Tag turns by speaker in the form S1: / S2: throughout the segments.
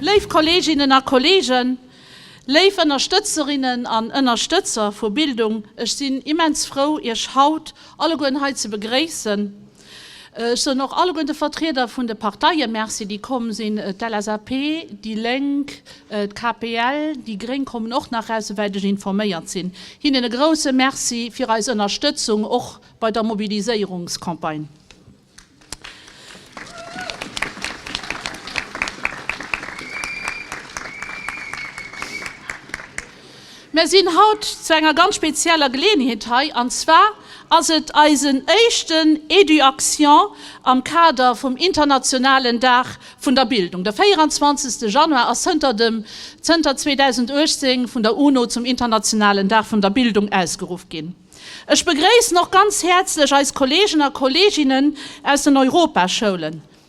S1: Léif Kolleeginnen a Kolleegen, léif Ënnerstëtzerinnen an Ënnerstëtzer vu Bildung, ech sinn immens frou, Iech haut allegueren hei ze begréissen. Ech soen och alleguer de Vertrieder vun de Parteie Merci, déi komm sinn. D'LSAP, déi Lénk, d'KPL, déi Gréng kommen och nach raus, souwäit ech informéiert sinn. Hinnen e grouse Merci fir eis Ënnerstëtzung och bei der Mobiliséierungscampagne. Mär sinn haut zu enger ganz spezieller Geleeënheet hei, an zwar ass et eisen éischten Eduaction am Kader vum internationalen Dag vun der Bildung. De 24. Januar ass zënter dem zënter 2018 vun der UNO zum internationalen Dag vun der Bildung ausgeruff ginn. Ech begréissen och ganz häerzlech eis Kolleegen a Kolleeginnen aus den Europaschoulen.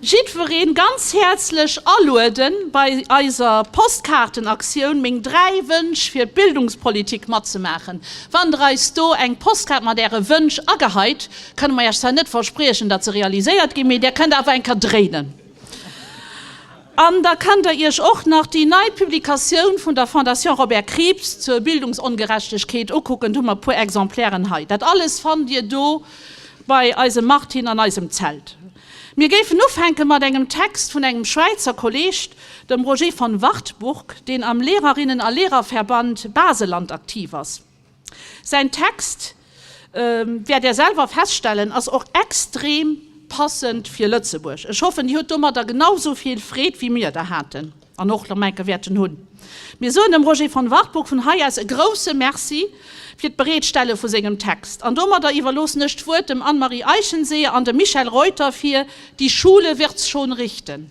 S1: Jiddwereen ganz häerzlech alueden bei eiser Postkaartenaktioun Meng 3 Wënsch fir d'Bildungspolitik matzemaachen. Wann der eis do eng Postkaart mat äre Wënsch ageheit, kënne mer iech zwar net verspriechen dat se realiséiert ginn, mee der kënnt awer eng Kéier dréinen. An da kënnt der iech och nach déi nei Publikatioun vun der Fondation Robert Krieps zur Bildungsongerechtegkeet ukucken, do hu mer e puer Exemplairen hei. Dat alles fannt dir do bei eisem Martin an eisem Zelt. Mir géifen ufänke mat engem Text vun engem Schwäizer Kolleg, dem Roger von Wartburg, deen am Lehrerinnen a Lehrerverband Baselland aktiv ass. Säin Text, wäert Där selwer feststellen, ass och extrem passend fir Lëtzebuerg. Ech hoffen, Dir hutt domadder genau esou vill Freed wéi mir der haten. an och nach Menke wäerten hunn. Mir soen dem Roger von Wartburg vun hei aus e grouse Merci fir d'Bereetstelle vu sengem Text. An domadder iwwerloossen ech d'Wuert dem Anne-Marie Eichenseeër an dem Michel Reuter fir Die Schule wird's schon richten.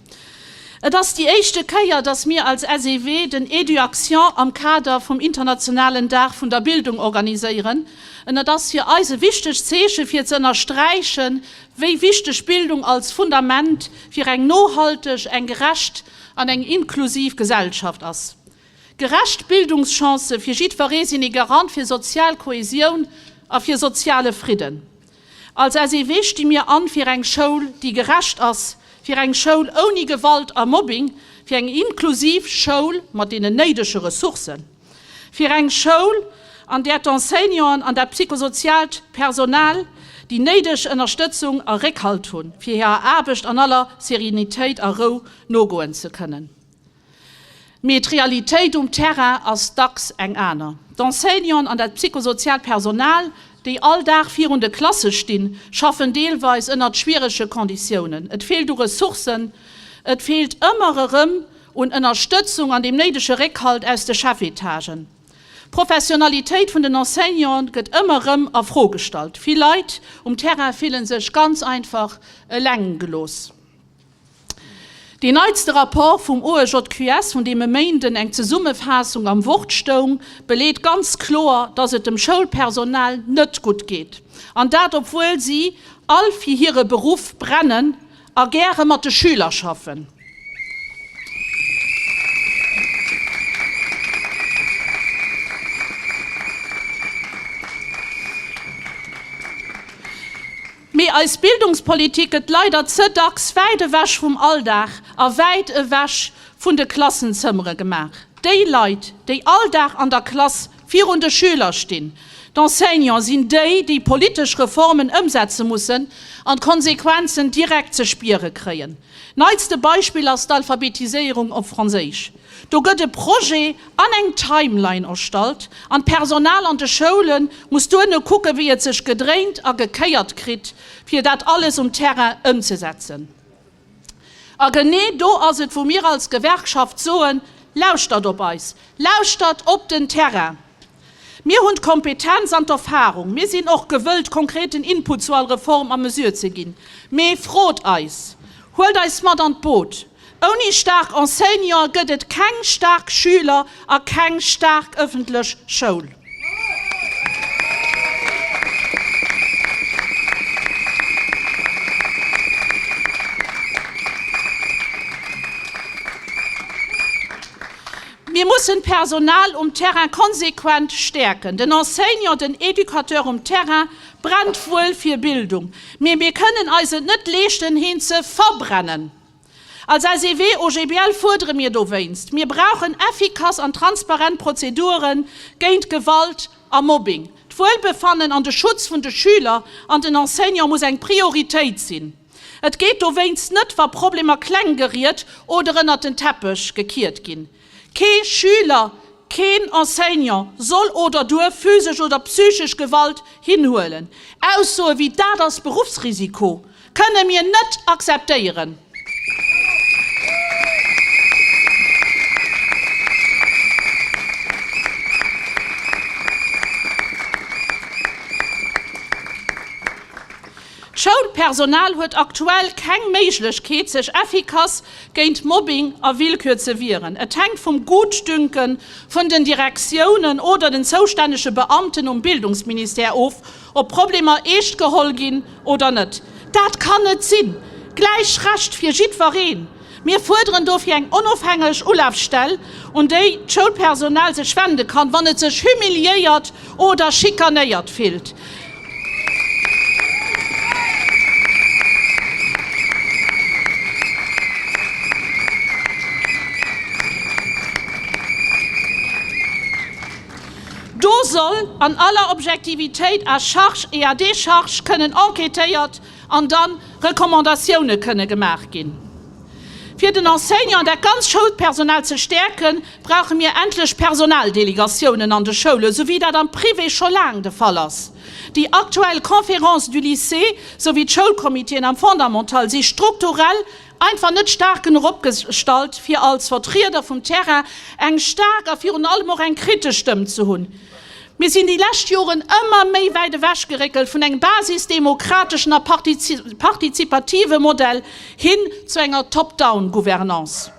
S1: Et ass déi éischte Kéier, dass mir als SEW den Eduaction am Kader vum internationalen Dag vun der Bildung organiséieren, en et ass fir eis e wichtegt Zeeche fir ze ënnersträichen, wéi wichteg Bildung als Fundament fir eng nohalteg, eng gerecht an eng inklusiv Gesellschaft ass. Gerecht Bildungschancë fir jiddweree sinn ee Garant fir sozial Kohäsioun a fir soziale Fridden. Als SEW sti mir an fir eng Schoul, déi gerecht ass, fir eng Schoul ouni Gewalt a Mobbing, fir eng inklusiv Schoul mat deenen néidege Ressourcen, fir eng Schoul, an där d'Enseignanten an dat psychosoziaalt Personal déi néideg Ënnerstëtzung a Réckhalt hunn, fir hirer Aarbecht an aller Serenitéit a Rou nogoen ze kënnen. Mee d'Realitéit um Terrain ass dacks eng aner. D'Enseignanten an dat psychosoziaalt Personal, déi all Dag virun de Klasse stinn, schaffen deelweis ënnert schwierege Konditiounen. Et feelt u Ressourcen, et feelt ëmmer erëm un Ënnerstëtzung an dem néidege Réckhalt aus de Chefetagen. D'Professionalitéit vun den Enseignanten gëtt ëmmer erëm a Fro gestallt. Vill Leit um Terrain fille sech ganz einfach eleng gelooss. Deen neitste Rapport vum OEJQS, vun deem e Méinden eng Zesummefaassung am Wort stoung, beleet ganz kloer, datt et dem Schoulpersonal net gutt geet. An dat obwuel si all fir hire Beruff brennen a gäre mat de Schüler schaffen. Mee eis Bildungspolitik gëtt leider ze dacks wäit ewech vum Alldag a wäit ewech vun de Klassenzëmmere gemaach. Déi Leit, déi all Dag an der Klass virun de Schüler stinn, d'Enseignants, sinn déi, déi politesch Reformen ëmsetze mussen an d'Konsequenzen direkt ze spiere kréien. Neitste Beispill ass d'Alphabetiséierung op Franséisch. Do gëtt e Projet an eng Timeline erstallt an d'Personal an de Schoule muss duerno kucken, wéi et sech gedréint a gekéiert kritt, fir dat alles um Terrain ëmzesetzen. A genee do ass et, wou mir als Gewerkschaft soen, Lauschtert op eis, lauschtert op den Terrain! Mir hunn d'Kompetenz an d'Erfahrung. Mir sinn och gewëllt, konkreten Input zu all Reform a Mesure ze ginn. Mee frot eis! Huelt eis mat an d'Boot! Ouni staark Enseignanten gëtt et keng staark Schüler a keng staark ëffentlech Schoul. Mir mussen d'Personal um Terrain konsequent stäerken. Den Enseignant, den Educateur um Terrain brennt wuel fir Bildung, mee mir kënnen eis et net leeschten, heen ze verbrennen. Als SEW-OGBL fuerdere mir dowéinst, Mir brauchen effikass an transparent Prozedure géint Gewalt a Mobbing. D'Wuelbefannen an de Schutz vun de Schüler an den Enseignant muss eng Prioritéit sinn. Et gétt dowéinst net wa Problemer kleng geriet oder ënnert den Teppech gekiert ginn. Kee Schüler, keen Enseignant soll oder duerf physesch oder psychesch Gewalt hinhuelen. Aussoe wéi Dat ass Beruffsrisiko kënne mir net akzeptéieren. D'Schoulpersonal huet aktuell keng Méiglechkeet sech effikass géint Mobbing a Willkür ze wieren. Et hänkt vum Gutdünke vun den Direktiounen oder den zoustännege Beamten um Bildungsministère of, ob Problemer eescht geholl ginn oder net. Dat kann net sinn! Gläich Recht fir jiddwereen! Mir fuerderen dofir eng onofhängeg Ulafstell, un déi d'Schoulpersonal sech wende kann, wann et sech humiliéiert oder schikanéiert fillt. Do soll an aller Objektivitéit à charge et à décharge kënnen enquêtéiert an dann Recommandatioune kënne gemaach ginn. Fir den Enseignant an dat ganz Schoulpersonal ze stäerken, brauche mir endlech Personaldelegatiounen an de Schoule, esou wéi dat am Privé scho laang de Fall ass. Déi aktuell Conférences du lycée esou wéi d'Schoulcomitéen am Fondamental si strukturell einfach net staark genuch opgestallt, fir als Vertrieder vum Terrain eng staark a virun allem och eng kritesch Stëmm ze hunn. Mir sinn déi lescht Joren ëmmer méi wäit ewechgeréckelt vun engem basisdemokrateschen a partizipative Modell hin zu enger Top-down-Gouvernance.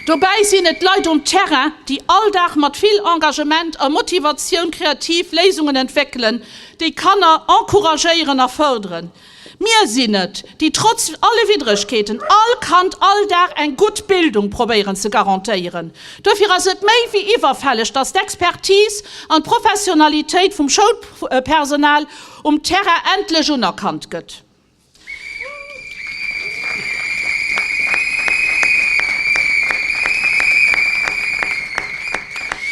S1: Dobäi sinn et d'Leit um Terrain, déi all Dag mat vill Engagement a Motivatioun kreativ Léisungen entwéckelen, déi Kanner encouragéieren a fërderen. Mir sinn et, déi trotz alle Widdregkeeten all Kand all Dag eng gutt Bildung probéieren ze garantéieren. Duerfir ass et méi wéi iwwerfälleg, dass d'Expertise an d'Professionalitéit vum Schoulpersonal um Terrain endlech unerkannt gëtt.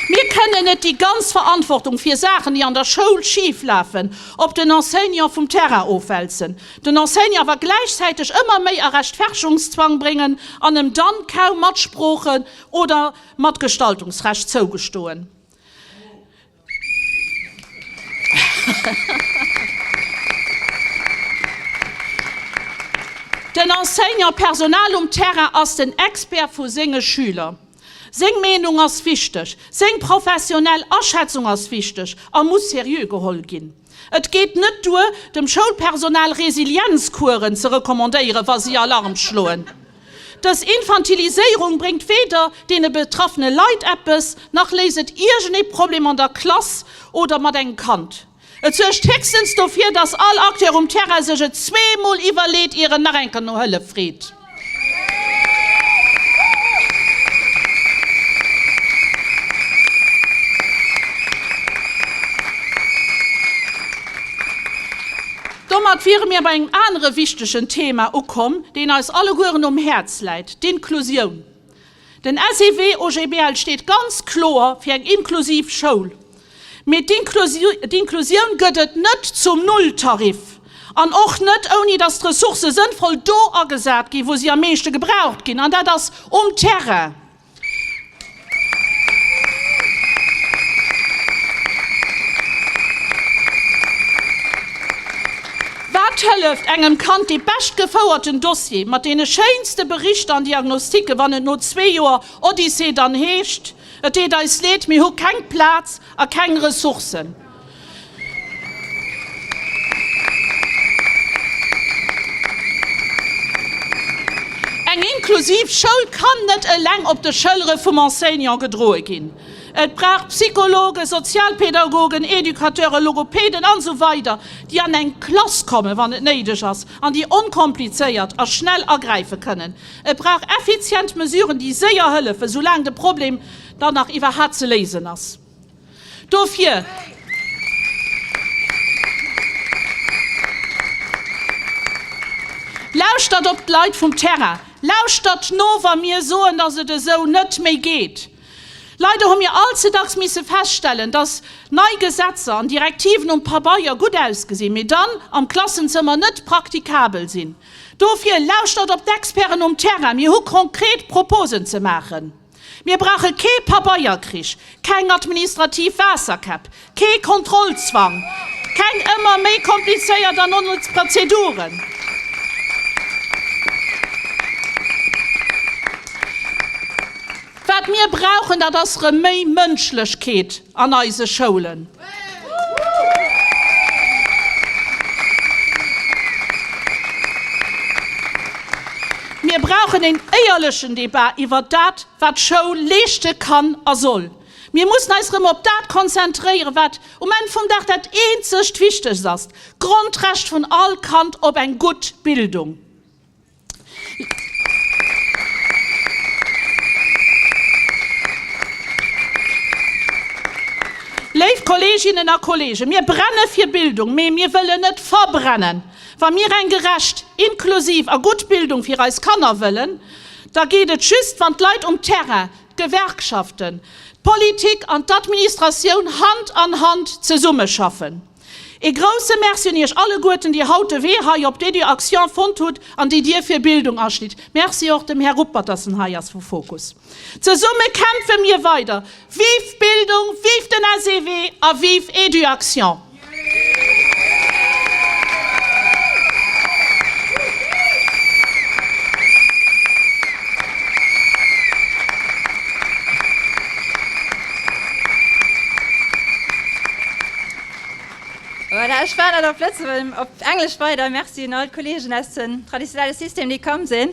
S1: Mir kënnen net déi ganz Verantwortung fir Saachen, déi an der Schoul schif lafen, op den Enseignant vum Terrain ofwälzen, den Enseignant awer gläichzäiteg ëmmer méi a Rechtfertigungszwang bréngen an em dann kaum Matsprooche oder Matgestaltungsrecht zougestoen. Den Enseignant-Personal um Terrain ass den Expert vu senge Schüler. Seng Meenung ass wichteg, seng professionell Aschätzung ass wichteg a muss seriö geholl ginn. Et geet net duer, dem Schoulpersonal Resilienzkueren ze recommandéieren, wa si Alarm schloen. Dës Infantiliséierung bréngt weder deene betraffene Leit eppes, nach léist et iergendee Problem an der Klass oder mat engem Kand. Et suergt héchstens dofir, dass all Acteur um Terrain sech et zwee Mol iwwerleet, ier en nach eng Kéier no Hëllef freet. Domat wiere mir bei engem anere wichtegen Thema ukomm, deen eis allegueren um Häerz läit, d'Inklusioun. Den SEW OGBL steet ganz kloer fir eng inklusiv Schoul. Mee d'Inklusioun gëtt et net zum Nulltarif an och net, ouni datt d'Ressourcë sënnvoll do agesat ginn, wou si am meeschte gebraucht ginn, an dat ass um Terrain. Wat hëlleft engem Kand dee bescht gefouerten Dossier mat deene schéinste Berichter an Diagnostike wann et no zwee Joer Odyssee dann heescht, Et deet eis leed, mir hu keng Plaz a keng Ressourcen? Eng inklusiv Schoul kann net eleng op de Schëllere vum Enseignant gedroe ginn. Et brauch Psychologen, Sozialpädagogen, Educateuren, Logopäden an esou weider déi an eng Klass kommen, wann et néideg ass, an déi onkomplizéiert a schnell agräife kënnen. Et brauch effizient Mesuren déi séier hëllefen, soulaang de Problem dann nach iwwerhat ze léisen ass. Dofir. Lauschtert op d'Leit vum Terrain. Lauschtert no wa mir soen, dass et esou net méi geet. Leider hu mir allze dacks misse feststellen, dass nei Gesetzer an Direktiven um Pabeier gutt ausgesinn, mee dann am Klassenzëmmer net praktikabel sinn. Dofir, lauschtert op d'Experten um Terrain, mir hu konkret Proposen ze maachen. Mir brauche kee Pabeierkrich, keng administrativ Waasserkäpp, Kee Kontrollzwang, keng ëmmer méi komplizéiert an onnëtz Prozeduren. Wat mir brauchen, dat ass erëm méi Mënschlechkeet an eise Schoulen. Mir brauchen een éierlechen Debat iwwert dat, wat d'Schoul leeschte kann a soll. Mir mussen eis erëm op dat konzentréieren, wat um Enn vum Dag dat eenzegt Wichtegst ass, d'Grondrecht vun all Kand op eng gutt Bildung. Léif Kolleeginnen a Kolleegen, mir brenne fir Bildung, mee mir wëllen net verbrennen. Wa mir eng gerecht, inklusiv a gutt Bildung fir eis Kanner wëllen, da geet et just, wann d'Leit um Terrain d'Gewerkschaften, d'Politik an d'Administratioun Hand an Hand zesummeschaffen. Ee grousse Merci un Iech alleguerten, déi haut de Wee hei op d'Eduaction fonnt hutt an déi Dier fir Bildung aschnitt. Merci och dem Här Ruppert, dass en hei ass vu Fokus. Zesumme kämpfe mir weider! Vive d'Bildung, vive den SEW a vive Eduaction!
S2: Voilà, ech war net op Lëtzebuerg, op Englesch weider. Merci un all d'Kollegen aus den traditionelle System, déi komm sinn.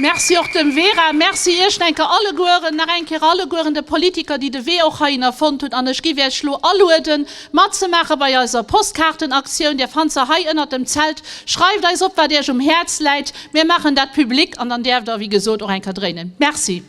S1: Merci och dem Vera. Merci iech denke allegueren, nach eng Kéier allegueren de Politiker, déi de Wee och heihinner fonnt hunn. An ech giff iech elo alueden, matzemaache bei eiser Postkaartenaktioun. Dir fannt se hei ënnert dem Zelt. Schreift eis op, wat iech um Häerz läit. Mir maachen dat public an dann däerft der, wéi gesot, och eng Kéier dréinen. Merci.